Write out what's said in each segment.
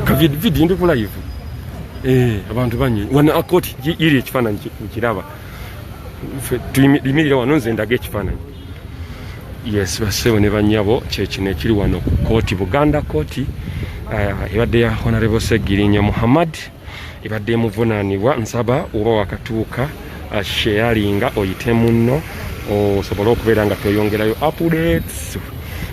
kavidi ndi kulaivu eh, abantu banyi wana akoti iri ekifaananyi nkiraba tuyimirire wano nze ndaga ekifaananyi yes basebo ne banyabo kyekino ekiri wano ku kooti buganda kooti eh, ebadde ya honorable segirinya muhammad ebadde emuvunanibwa nsaba oba wakatuuka uh, sheyalinga oyite munno osobole okubeera nga toyongerayo updates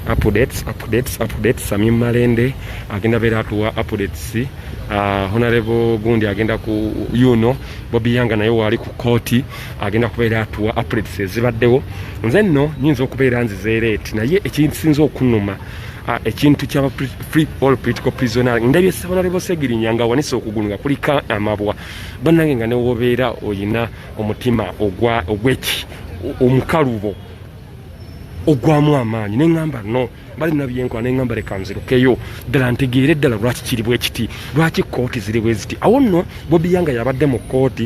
updates updates updates sami malende agenda beera atuwa updates uh, honorable gundi agenda ku yuno bobi yanga naye waali ku kooti agenda kubeera atuwa updates ezibaddewo nze nno nyinza okubeera nzizeereeti naye ekisinza okunuma Ah, ekintu kyaba free all political prisoner ndabye sabana lebo segirinya nga wanise okugulu nga kulika amabwa banange nga newobeera oyina omutima ogwa ogweki omukalubo ogwamu amaanyi neŋamba no bali nabyenkola neŋamba leka nzirukeyo ddala ntegeere ddala lwaki kiri bwekiti lwaki kooti ziri bweziti awo nno bobiyanga yabadde mu kooti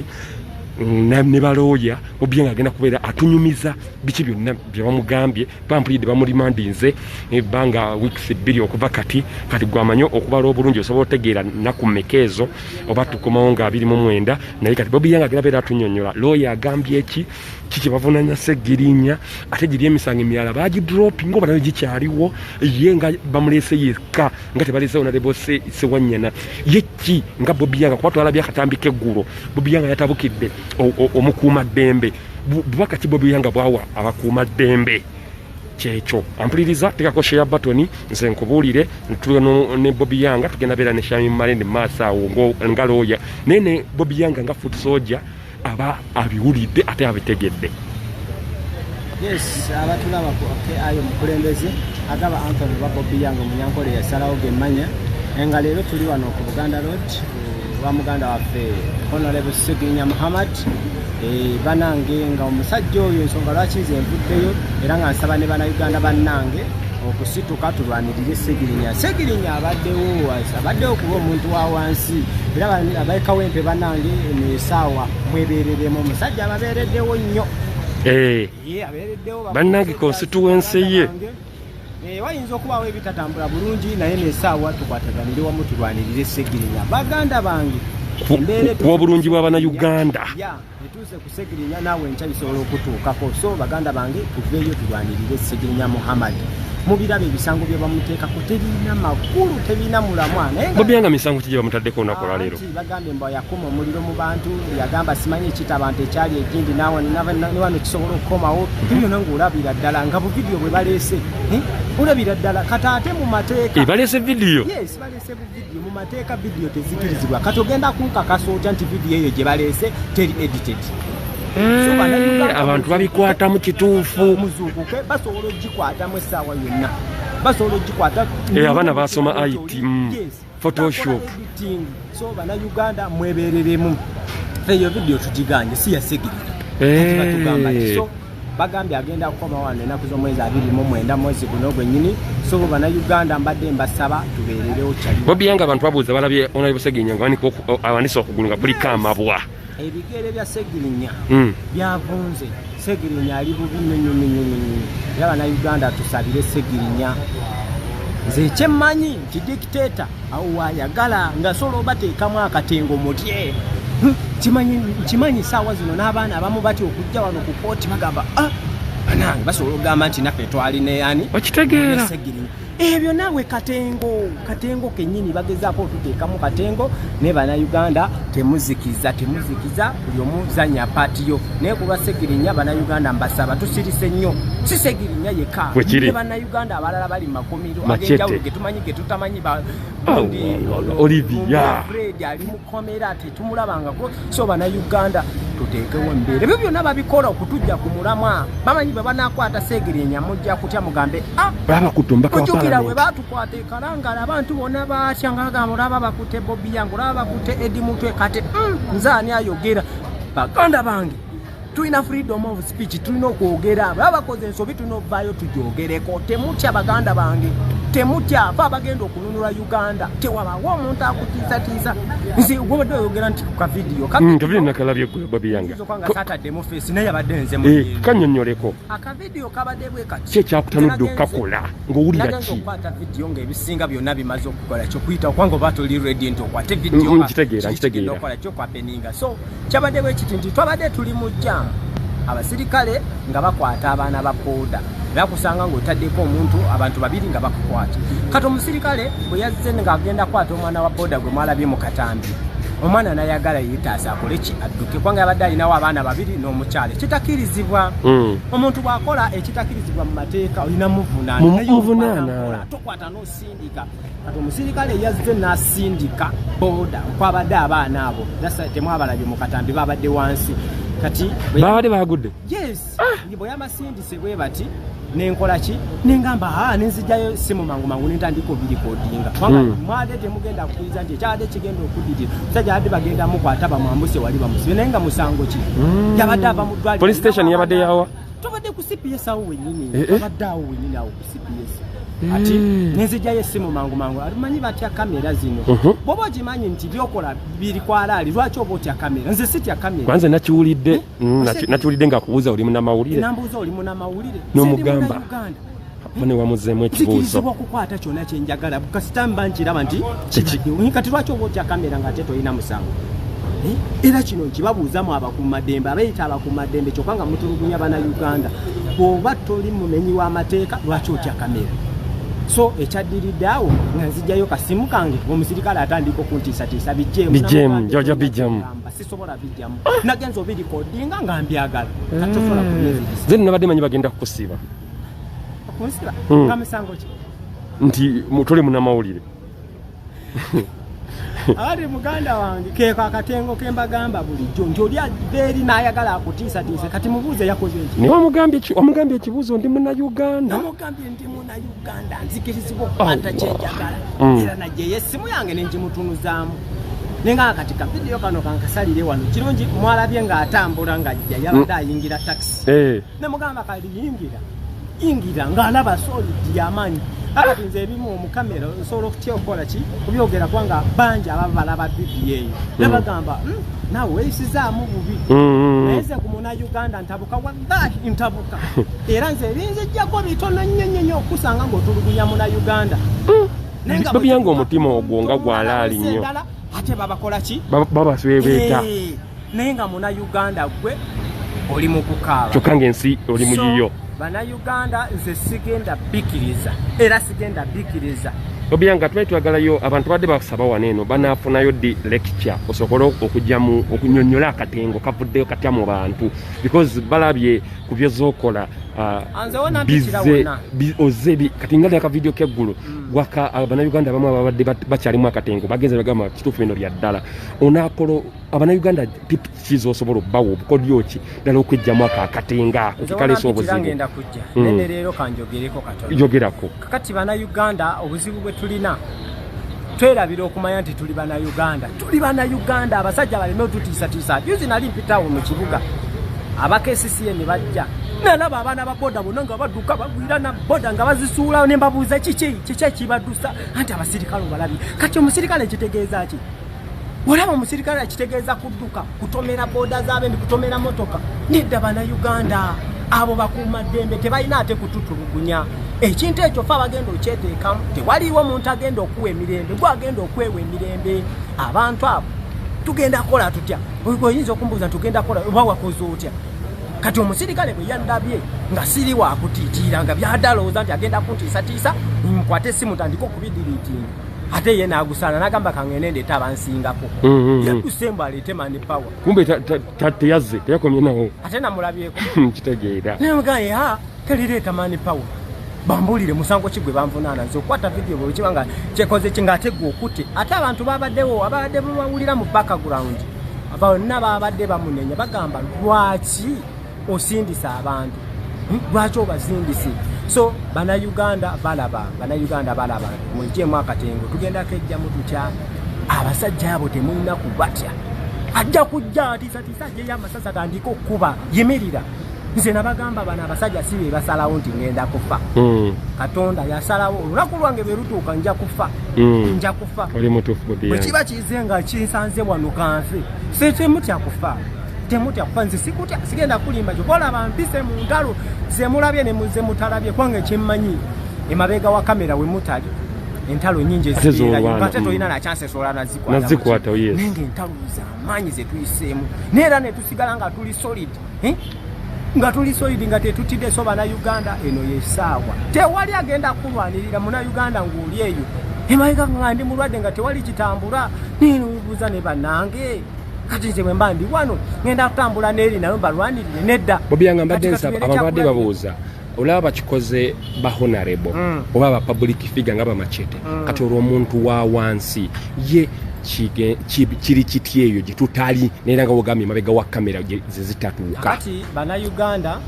ne balooya obye nga agenda kubeera atunyumiza biki byonna byebamugambye bampulidde bamulimandinze ebbanga weeks bbiri okuva kati kati gwamanyi okubala obulungi osobola otegeera naku meka ezo oba tukomawo nga abiri mu mwenda naye kati bobi yanga agera beera atunyonyola looya agambye eki kikyebavunanya segirinya ate giri emisango emirala bagidropi nga obanayo gikyaliwo ye nga bamulese yekka nga tebalesewo nalebose sewanyana ye ki nga bobi yanga kuba twalabye akatambi keggulo bobi yanga yatabukidde omukuuma ddembe bubaka ki bobi yanga bwawa abakuuma ddembe kyekyo ampuliriza tekako sheya batoni nze nkubuulire ntulo ne bobi yanga tugenda beera ne shami male ne maaso awo nga looya naye ne bobi yanga nga foot soja aba abiwulidde ate abitegedde yes abatulaba ku ayo mukulembeze agaba antony oba bobi yanga omunyankole yasalawo gemanya enga leero tuli wano ku buganda road wa muganda waffe honorable seginya muhammad eh, banange nga omusajja oyo ensonga lwaki nze nvuddeyo era nga nsaba ne banauganda bannange okusituka tulwanirire segirinya segirinya abaddewo abaddewo kuba omuntu wa wansi era abaekawempe banange nesaawa mwebereremu omusajja ababeereddewo nnyo eh. abeereddewo bannange konsituwensi ye Eh, wayinza okubaawo ebitatambula bulungi naye nesaawa tukwataganire wamu tulwanirire segirinya baganda bange ku obulungi bwa banauganda etuuse ku segirinya naawe enkya bisobola okutuukako so baganda bange tuveeyo tulwanirire segirinya muhammad mubiraba ebisango byebamuteekako tebirina makulu tebirina mulamwa naye bobyanga misango kigye bamutaddeko onakola leero Bagambye mbu yakuma omuliro mu bantu yagamba simanyi ekita abantu ekyali egindi newano kisobola okukomawo byona ngaolabira ddala nga buvidiyo bwe baleese eh? olabira ddala kata ate mu mateeka eh, baleese vidiyo baleese buvidiyo mu mateeka vidiyo tezikirizibwa kati ogenda kunkakasa otya nti vidiyo eyo gye baleese teri edited eh, abantu babikwatamu kituufu muzuukuke basobola ogikwatamu essaawa yonna basobola ogikwata abaana basoma it mm. photoshop so bana uganda mwebereremu eyo video tujiganye si yasigirira eh. batugamba so bagambye agenda kukoma wano enaku zomwezi abiri mu mwenda mwezi guno gwenyini so bana uganda mbadde mbasaba tubererewo kyali bobi yanga abantu babuuza balabye onali buseginya nga awanise okugulu nga buliko amabwa ebigere bya segirinya hmm. byavunze segirinya ali bubi nyonyonyonyonyo era banauganda tusabire segirinya nze ekyemmanyi nti dikiteta awo wayagala nga sola obateekamu akatengo mutye kimanyi saawa zino n'abaana abamu batya okujja wano ku kooti bagamba ah, banange basobola okugamba nti naffe twali neyani okitegeera ebyo naawe katengo katengo kenyini bagezaako otuteekamu katengo naye banauganda temuzikiza temuzikiza buli omuzanya paatiyo naye kulwa segirinya banauganda mbasaba tusirise nnyo si segirinya yekka ne banauganda abalala bali mu makomiro agenjawulo getumanyi getutamanyi baolivia ali mukomera tumulabangako so bana uganda tuteekewo embeera ebyo byonna babikola okutujja ku mulamwa bamanyi bwe banakwata seegerenya mujja kutya mugambe ah, ojukira bwe batukwata ekalangala abantu bonna batya nga bagamba olaba bakute bobi yange olaba bakute edi mutwe kati mm, nze ani ayogera baganda bange tulina freedom of speech tulina okwogera baba bakoze ensobi tulina okuvaayo tugyogereko temutya baganda bange temutya fe abagenda okununula uganda tewabawo omuntu akutiisatiisa nze gwobadde oyogera nti ku kavidiyo mm, kavidiyo nakalabye babiyangaokanga satadde mu feesi naye yabadde nze mu eh, kanyonyoleko akavidiyo kabadde bwe kati kyekyakutanudde okukakola ng'owulira ki nagenda okukwata vidiyo ng'ebisinga byonna bimaze okukola kyokuyita okubanga oba toli redi nti okwate vidiyo mm, mm, nkitegeera nkitegeera okola kyokwapeninga so Kyabadde bwe kiti nti twabadde tuli mu jjaamu abasirikale nga bakwata abaana ba booda era kusanga ng'otaddeko omuntu abantu babiri nga bakukwata kati omusirikale bwe yazze ng'agenda kwata omwana wa booda gwe mwalabye mu katambi omwana nayagala yetaasa akole ki adduke kubanga yabadde alinawo abaana babiri n'omukyala ekitakirizibwa hmm. omuntu bw'akola ekitakirizibwa mu mateeka olina muvunaana Sindika kati omusirikale yazze n'asindika boda kwabadde abaana abo nasa temwabalabye mu katambi babadde wansi kati babadde bagudde yes ah! bwe yamasindise bwe bati nenkola ki nengamba ha ah, nenzijayo simu mangu mangu nentandika obirikodinga kubanga hmm. mwade temugenda kukiriza nti ekyabadde kigenda okudirira musajja abadde bagenda mukwata bamwambuse wali bamusibe naye nga musango ki hmm. yabadde ava mu ddwaliro police station yabadde yawa tubadde ku cps awo wenyini eh, eh. abadde awo wenyini awo ku cps eh. ati nenzijayo essimu mangu mangu alimanyi batya kamera zino uh-huh. bwoba ogimanyi nti byokola biri kwalaali lwaki oba otya kamera nze sitya kameranze nakiwulidde mm, nakiwulidde nga kubuuza oli munamawulire nambuuza oli munamawulire nomugamba mune wamuzeemu ekibuuzo okukwata kyona kyenjagala kasita mba nkiraba nti kati lwaki oba otya kamera ngaate tolina musango eh? era kino nkibabuuzamu abakumaddembe abeeyita abakumaddembe kyokka nga mutulugunya bana uganda bwoba toli mumenyi w'amateeka lwaki otya kamera so ekyaddiridde awo nga nzijjayo kasimu kange omusirikale atandika okuntiisatiisa bijjemujojabijamu sisobola bijjamu nagenza obirikodinga nga mbyagala katosobola eh. kubyezize nabadde manyi bagenda kukusiiba okunsiba hmm. nga musango ki nti toli munamawulire ali muganda wange keko akatengo kembagamba bulijjo nti oli aveeri n'ayagala akutiisatiise kati mubuuze yakoze eki naye omugambye ekibuuzo ndi muna uganda omugambye ndi muna uganda nzikirizibwa okukwata kyenjagala mm. era najeyo essimu yange nengimutunuzaamu naye nga kati kavidiyo kano kankasalire wano kirungi mwalabye ng'atambula ng'ajja yabadde mm. ayingira takisi eh. ne mugamba kali yingira yingira nga alaba soli diamani alati nze ebimu omukamera nsobola okutya okukola ki kubyogera kubanga bangi ababa balaba bibiyo eyo mm. nebagamba hmm, nawe weyisizaamu bubi mm, mm, naye nze ku muna uganda ntabuka wallahi ntabuka era nze ebinzijjako bitono nnyo nnyo nnyo okusanga ngaotulugunya muna uganda babiyanga omutima ogwo nga gwalaali nnyo ate babakola ki babaswebeeta eh. naye nga muna uganda gwe oli mukukaaba kyokka nga ensi oli muyiyo bana uganda nze sigenda bikiriza era sigenda bikiriza obyanga twali twagalayo abantu badde basaba wano eno banafunayo di lecture osobole okujamu okunyonyola akatengo kavuddeyo katya mu bantu because balabye ku byozokola ah, oze kati nga lyaka vidiyo keggulu mm. gwaka ah, banauganda abamu ababadde bakyalimu akatengo bagenze bagamba kituufu bino bya ddala onakola abanayuganda kiki osobola okubawa obukodyo ki ddala okwejjamu ako akatenga ako kekaleesa obuzibugenda kujja hmm. nene leero kanjogereko katoyogerako kakati banayuganda obuzibu bwe tulina twerabira okumanya nti tuli banayuganda tuli banayuganda abasajja baleme otutiisatiisa juzi nali mpitawo mu kibuga abakesisiye ne bajja nalaba abaana ba boda bona nga badduka bagwira na boda nga bazisuula ne mbabuuza kiki kiki ekibadusa anti abasirikale obalabi kati omusirikale kitegeeza ki olaba omusirikale akitegeeza kudduka kutomera booda zaabendi kutomera motoka nedda bana uganda abo bakuuma ddembe tebalina ate kututulugunya ekintu ekyo fe abagenda okyeteekamu tewaliiwo omuntu agenda okuwa emirembe gwe agenda okwewa emirembe abantu abo tugenda kukola tutya oyinza okumbuuza tugenda kukola oba wakoze otya kati omusirikale bwe yandabye nga siri wakutiitiira nga byadalowooza nti agenda kuntiisatiisa nkwate esimu tandika okubidiriitinga ate ye nagusaana nagamba kangende ndeeta abansingako mm, mm, mm. yakusemba aleete mani power kumbe teyazze teyakomye nawo ate namulabyeko kitegeera naye mugaye ha telireeta mani power bambuulire musango ki gwe banvunaana nze okukwata vidiyo bwe kiba nga kyekoze ki ng'ate gwe okutte ate abantu babaddewo ababadde bawulira mu background aba bonna babadde bamunenya bagamba lwaki osindisa abantu hmm? lwaki obasindisi so banauganda balaba banauganda balaba mujemu akatengo tugenda kejjamu tutya abasajja abo temulina kubatya ajja kujja atisatisa ajeyo amasasa gandika okukuba yimirira nze nabagamba bano abasajja si bebasalawo nti ngenda kufa hmm. katonda yasalawo olunaku lwange berutuuka nja kufa hmm. nja kufa bwekiba kize nga kinsanze wano kanfe setemutya kufa temutya kuba nze sikutya sigenda kulimba kyo kolaba mpise mu ntalo zemulabye nemuzemutalabye kubanga ekyemmanyi emabeega wa kamera we mutali entalo nyingi eziate tolina nakyansesolanazikwata nenge entalo zamaanyi zetuyiseemu naye era netusigala nga tuli solid eh? nga tuli solid nga tetutidde so bana uganda eno yesaawa tewali agenda kulwanirira muna uganda ngaoli eyo emabeega nga ndi mulwadde nga tewali kitambula nenubuuza ne banange kati nze bwemba ndi wano ngenda kutambula neeri nayo mbalwanirire nedda bobi yanga mbadde nsaba abantu badde babuuza olaba bakikoze ba honarebo mm. oba ba public figure nga bamacete mm. kati olwo omuntu wa wansi ye kiri kiti eyo gye tutali naye nga wogambye mabega wa kamera ze zitatuuka kati banauganda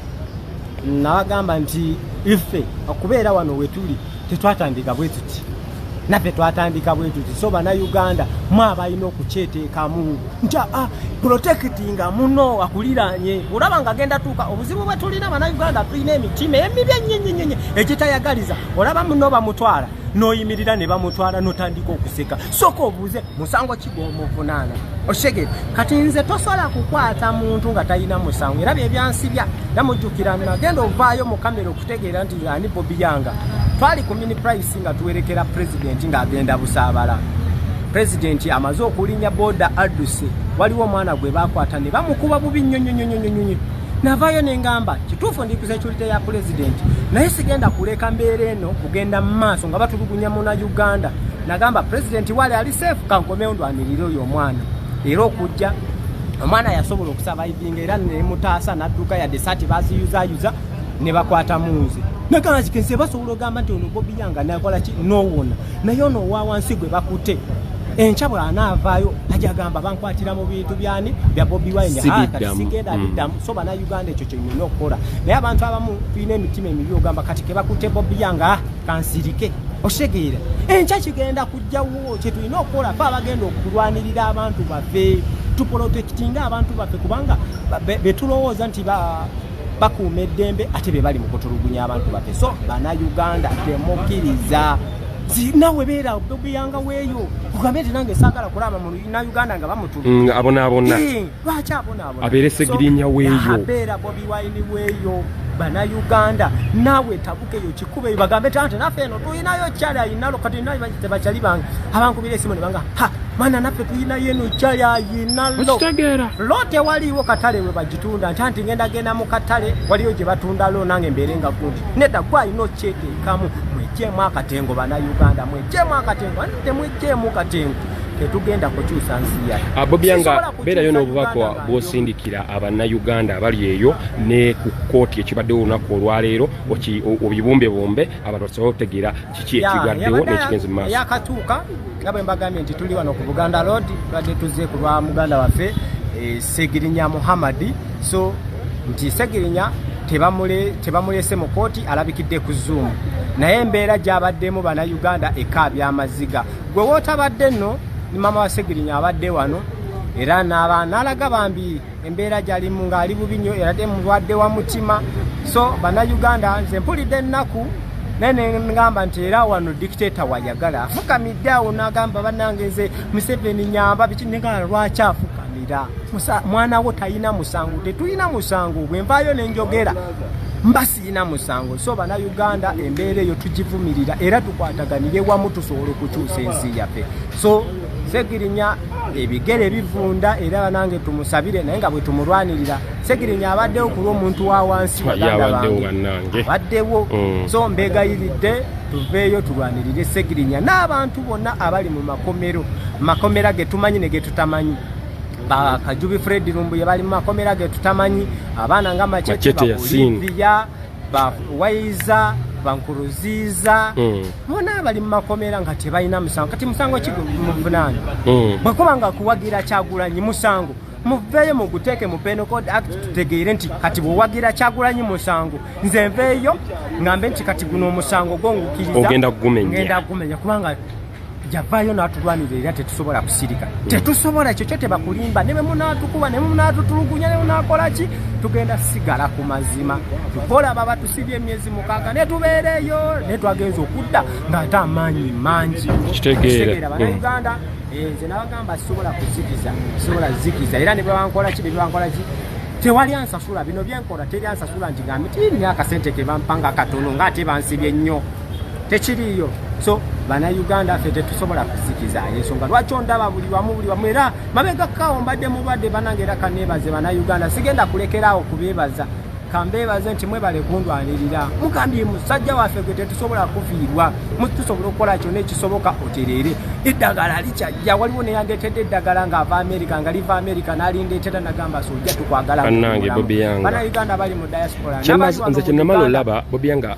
nabagamba nti ife okubeera wano wetuli tetwatandika bwe tuti naffe twatandika bwe tuti so banauganda mwe abalina okukyeteekamu nti a ah, protekitinga muno akuliranye olaba nga agenda tuuka obuzibu bwe tulina banauganda tulina emitima emibi enyenyenyenye egitayagaliza olaba muno bamutwala noyimirira ne bamutwala notandika okuseka soka obuuze musango kigwomuvunaana oshegere kati nze tosobola kukwata muntu nga talina musango era byebyansibya namujjukira nagenda ovaayo mukamero Tegeera nti ani Bobi Yanga twali ku mini price nga tuwerekera pulezidenti ng'agenda busaabala pulezidenti amaze okulinnya booda adduse waliwo omwana gwe baakwata ne bamukuba bubi nnyo nnyo nnyo nnyo nnyo navaayo ne ngamba kituufu ndi ku security ya pulezidenti naye sigenda kuleka mbeera eno kugenda mu maaso nga batulugunya muna uganda nagamba pulezidenti wali ali seefu kankomewo ndwanirire oyo omwana era okujja omwana yasobola okusabaivinga era nemutaasa nadduka yadde sati baziyuzayuza ne bakwata munze nagamba kike nse basobola ogamba nti ono bobi yanga nakola ki nowona naye ono owa wansi gwe bakute enkya bwanaavaayo ajagamba bankwatira mu bintu byani bya bobi winesigenda mm. biddamu so bana uganda ekyo kyenyina okukola naye abantu abamu tulina emitima emibi ogamba kati kebakute bobi yanga ah, kansirike osegeera enkya kigenda kujjawo kyetulina okukola fe abagenda okulwanirira abantu baffe tupolotekitinga abantu baffe kubanga betulowooza nti bakuuma eddembe ate bebali mukutulugunya abantu bafe so bana uganda temukiriza nawe beera obeyanga weeyo kugambe nti nange saagala kulaba muna uganda nga bamutuluabonabona mm, lwaki abonaabona abeere segirinya weeyo abeera bobi wine weeyo bana uganda nawe eyo kikube bagambe tante naffe eno tulinayo kyali ayinalo kati natebakyali bange abankubira esimu nebanga ha mwana naffe tulinayo eno kyali ayinalo lo tewaliiwo katale we bagitunda nti anti ngenda genda mu katale waliyo gye batundalo nange mbeere nga gundi nedda gwe alina okyeteekamu mwejjeemu akatengo banauganda mwejjeemu akatengo ani temwejjeemu katengo tetugenda kukyusa nsi yaisobola kukyusa uganda bwosindikira abannayuganda abali eyo ne ku kkooti ekibaddewo olunaku olwaleero obibumbebumbe abantu basobole otegeera kiki ekigaddewo nekigenzi mumaaso yakatuuka nga bwe mbagambye nti tuli wano ku buganda road tubadde tuzze ku lwa muganda waffe eh, segirinya muhammadi so nti segirinya tebamulese mu kooti alabikidde ku zoom naye embeera gyabaddemu bannayuganda ekaabya amaziga gwe wootabadde nno ni maama wa segirinya abadde wano era naaba nalaga bambi embeera gyalimu ng'ali bubi nnyo era te mulwadde wa mutima so bannayuganda nze mpulidde ennaku naye nengamba nti era wano dictator wayagala afukamidde awo nagamba banange nze museveni nyamba biki nengala lwaki afukamira mwana wo talina musango tetulina musango bwenvaayo nenjogera mbasi zina musango so bana uganda embeera eyo tugivumirira era tukwataganire wamu tusobola okukyusa ensi yaffe so segirinya ebigere bivunda era banange tumusabire naye nga bwetumulwanirira segirinya abaddewo ku lwomuntu wa wansi abaddewo mm. so mbegayiridde tuveeyo tulwanirire segirinya n'abantu bonna abali mu makomero makomera getumanyi ne getutamanyi ba kajubi fred lumbuye bali mu makomera ge tutamanyi abaana nga macete bakuliviya ba waiza bankuruziiza hmm. bona mm. bali mu makomera nga tebalina musango kati musango ki muvunaani mm. bwekuba nga kuwagira kyagulanyi musango muveeyo muguteeke mu penal code act tutegeere nti kati bwewagira kyagulanyi musango nze nveeyo ngambe nti kati guno omusango gwo ngukiriza ogenda gumenya kubanga yavaayo n'atulwanirira era tetusobola kusirika mm. tetusobola ekyo kyo tebakulimba ne bemunaatukuba ne munaatutulugunya ne munaakola ki tugenda sigala ku mazima tukola baba tusibye emyezi mukaaga ne tubeereeyo ne twagenza okudda ng'ate amaanyi mangi kitegeera banauganda mm. eh, nze nabagamba sisobola kuzikiza sisobola zikiza era ne bwebankola ki ne bwebankola ki tewali ansasula bino byenkola teri ansasula nti gambi tiyirina akasente kebampanga katono ngaate bansibye nnyo tekiriiyo so bana uganda ffe tetusobola kusikiza ensonga lwaki ondaba buli wamu buli wamu era mabega kawo mbadde mulwadde banange era kaneebaze bana uganda sigenda kulekeraawo kubeebaza kambeebaze nti mwebale kundwanirira mugambye musajja waffe gwe tetusobola kufiirwa mutusobola okukola kyona ekisoboka otereere eddagala likyajja waliwo neyandeetedde eddagala ng'ava amerika nga liva amerika nalindeetera nagamba sojja tukwagala bana uganda bali mu diaspora nze kyenamala olaba bobyanga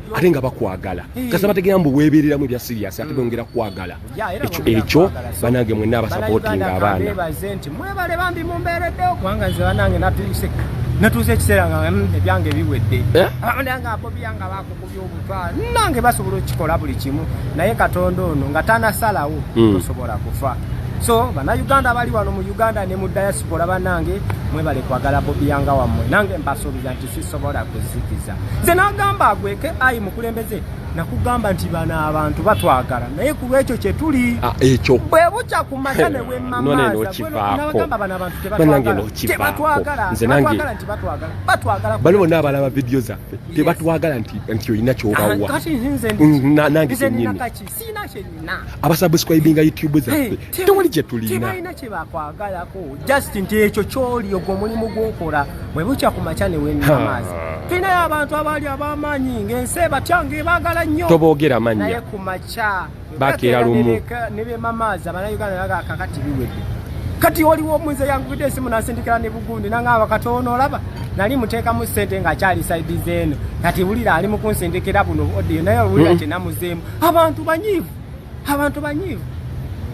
ate nga bakwagala kasa bategera mbu webereramu ebya serious ate bongera kwagala ekyo ekyo banange mwenna abasapotinga abaana mwebale bambi mumberedde okubanga nze banange natuyise natuuza ekiseera nga mm, ebyange biwedde eh? abandanga ah, abobiyanga bakukubya obutwa nange basobola okukikola buli kimu naye katonda ono nga tanasalawo hmm. tosobola kufa so banauganda abali wano mu uganda ne mu diaspora banange mwebale kwagala bobiyanga wammwe nange mbasuubiza nti sisobola kuzikiza nze nagamba agweke ayi mukulembeze nakugamba nti bano abantu batwagala naye ku lwekyo kyetuli ah, ekyo bwe bukya ku mata ne wemamaazabanabantutebtwagala bano bonna abalaba vidiyo zaffe tebatwagala nti olina kyobawa nange kyenyini sina kyenina abasubscribinga youtube zaffe tewali kyetulintebalina kyebakwagalako just nti ekyo kyoli ogwo omulimu gwokola bwe bukya ku makya newenamaazi tulinayo abantu abaali abamaanyi ngaensi ebatya ngaebagala nnyo toboogera mannya naye ku makya bakeera lumu nebemamaazi abanauganda bagakakati biwedde kati oliwo omunze yankubidde esimu nansindikira ne bugundi nangamba kati ono olaba nali muteekamu ssente ngaakyali saidi zeeno kati wulira ali mu kunsindikira buno odiyo naye wulira mm. kyenamuzeemu abantu banyiivu abantu banyiivu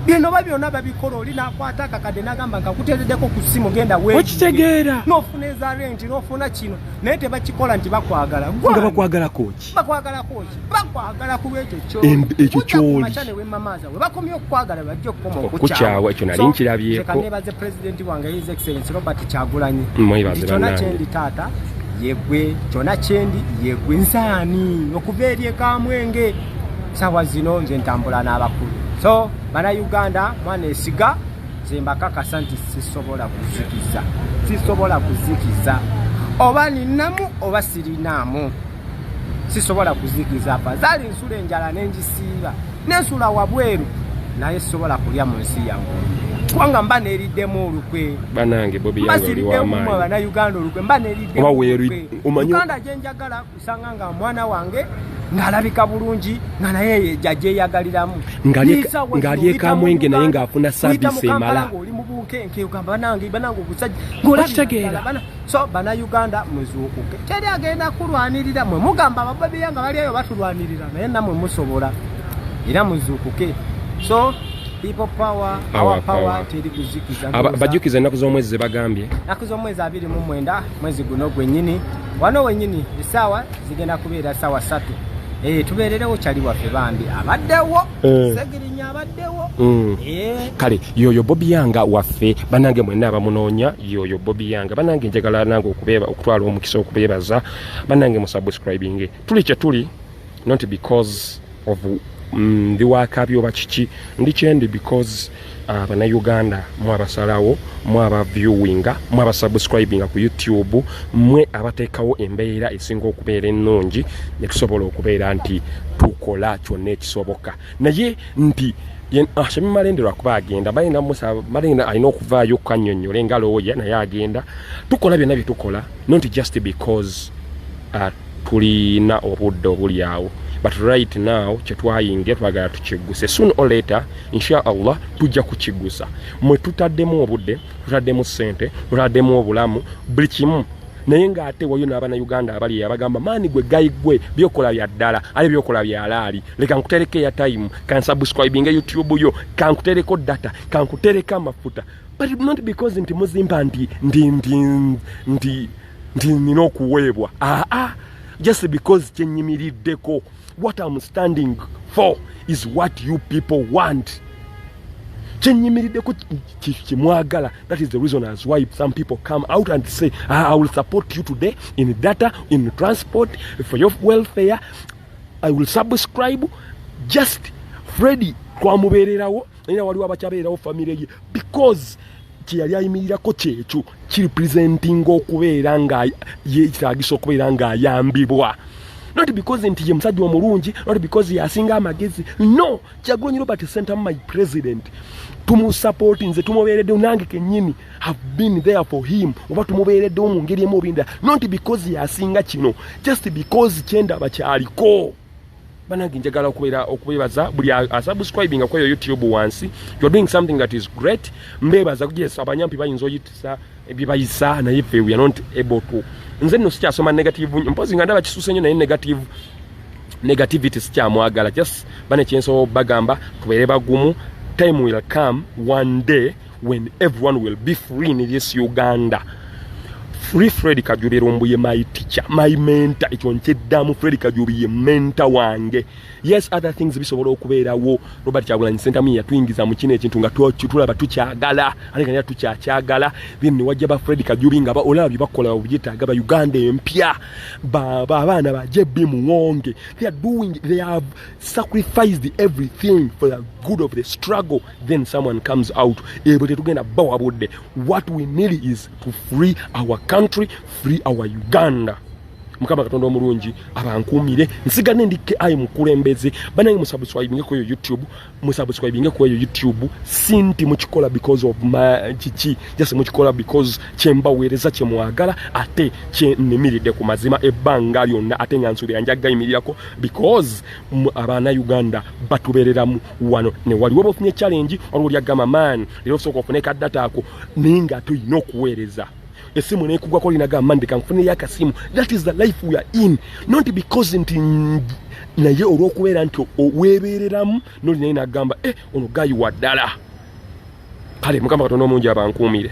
bino ba byona babikola oli nakwata akakadde nagamba nkakuteredeko ku ssimu genda wekitegeera nofuna eza renti nofuna kino naye tebakikola nti bakwagala nga bakwagalako ekyo kyolibakomye okukwagala bajja okukoma okukyawa ekyo nali nkirabyeko nebaze pulezidenti wange his excellence robert kyagulanyi kyona kyendi taata yegwe kyona kyendi yegwe nsaani okuva eri ekamwenge sawa zino nze ntambula n'abakulu so bana uganda mwana esiga nze mbakakasa nti sisobola kuzikiza sisobola kuzikiza oba ninamu oba sirinaamu sisobola kuzikiza fazali nsula enjala nenjisiiba nensula wabweru naye sisobola kulya mu nsi yange kubanga mba neriddemu olukwe banange bobiyangoliwamaanibanauganda olukwe mba neriddemuganda gyenjagala kusanga nga mwana wange ng'alabika bulungi nga naye jajeyagaliramu ng'alyekamwenge naye ng'afuna saavisi emala oli mu bunkenke ogamba banange banange ogusajja ng'olakitegeera so bana uganda muzuukuke teri agenda kulwanirira mwe mugamba abababiya nga bali eyo batulwanirira naye namwe musobola era muzuukuke so bajjukiza ennaku z'omwezi ze bagambye ennaku z'omwezi abiri mu mwenda mwezi guno gwenyini wano wenyini esaawa zigenda kubeera saawa satu eh, tubeererewo kyali waffe bambi abaddewo Eh. segirinya abaddewo mm. eh. kale yoyo bobi yanga waffe banange mwena abamunoonya yoyo bobi yanga banange njagala nange okubeeba okutwala omukisa okubeebaza banange musubscribinge tuli kyetuli not because of mm, ndi wakabyoba kiki ndi kyendi because Ah, banauganda mwe abasalawo mwe aba viewinga mwe aba subscribinga ku youtube mwe abateekawo embeera esinga okubeera ennungi netusobola okubeera nti tukola kyonna ekisoboka naye nti ah, shemi malende lwakuba agenda balina musa malende alina okuvaayo kukanyonyole nga looya naye agenda tukola byonna byetukola no nti just because uh, tulina obudde obuli awo but right now kyetwayingira twagala tukiguse soon or later insha allah tujja kukigusa mwe tutaddemu obudde tutaddemu sente tutaddemu obulamu buli kimu naye ng'ate wayo n'abana uganda abali abagamba maani gwe gayi gwe byokola bya ddala ale byokola byalaali leka nkutereko eya time kansubscribinga youtube yo kankutereko data kankutereko amafuta but not because nti muzimba nti ndi ndi ndi nti nina okuweebwa aa ah, ah. just because kyenyimiriddeko what am standing for is what you people want kyenyimiriddeko kyemwagala that is the reason as why some people come out and say ah, i will support you today in data in transport for your welfare i will subscribe just fredi twamubeererawo era waliwo abakyabeerawo famire ye because kyeyali ayimirirako kyekyo kirepresentinga okubeera nga yetagisa okubeera ngaayambibwa not because nti ye musajja omulungi not because yasinga amagezi no kyagulanyi robert center my president tumusapoti nze tumubeereddewo nange kenyini have been there for him oba tumubeereddewo mu ngeri emu obinda not because yasinga kino just because kyendaba kyaliko banange njagala okubeera okubebaza buli asubscribinga kweyo youtube wansi you're doing something that is great mbebaza yes abanyampi bayinza oyitisa byebayisa naye fe we are not able to nze nno sikyasoma negative mpozi nga ndaba kisuse nyo naye negative negativity sikyamwagala just bane kyensobola bagamba tubeere bagumu time will come one day when everyone will be free in this Uganda free Fred Kajubi Rumbuye my teacher my mentor ekyo nkyeddamu Fred Kajubi ye mentor wange yes other things bisobola okubeerawo Robert Kyagulanyi Ssentamu yatuyingiza mu kino ekintu nga tulaba tukyagala ate nga tukyakyagala then ne wajja ba Fred Kajubi nga olaba bye bakola obyetaaga ba Uganda empya abaana ba JB Muwonge they are doing they have sacrificed everything for the good of the struggle then someone comes out ebwe tetugenda bawa budde what we need is to free our country free our uganda mukama katonda omulungi abankuumire nsigane ndi ki mukulembeze banange musubscribinge kweyo youtube musubscribinge kweyo youtube sinti mukikola because of kiki jasi mukikola because kyembaweereza kyemwagala ate kyenimiridde ku mazima ebbanga lyonna ate nga nsuubira njagga yimirirako because abaana uganda batubereramu wano ne wali woba ofunye challenge waliwo lyagamba man leero osooka ofune ka data ako naye nga ate olina okuweereza esimu nekugwako olina gamba man ndeka nfuneyo akasimu that is the life we are in not because nti naye olw'okubeera nti weebeereramu nolinaye nagamba e eh, ono gayi wa ddala kale mukama katonda omungi abankuumire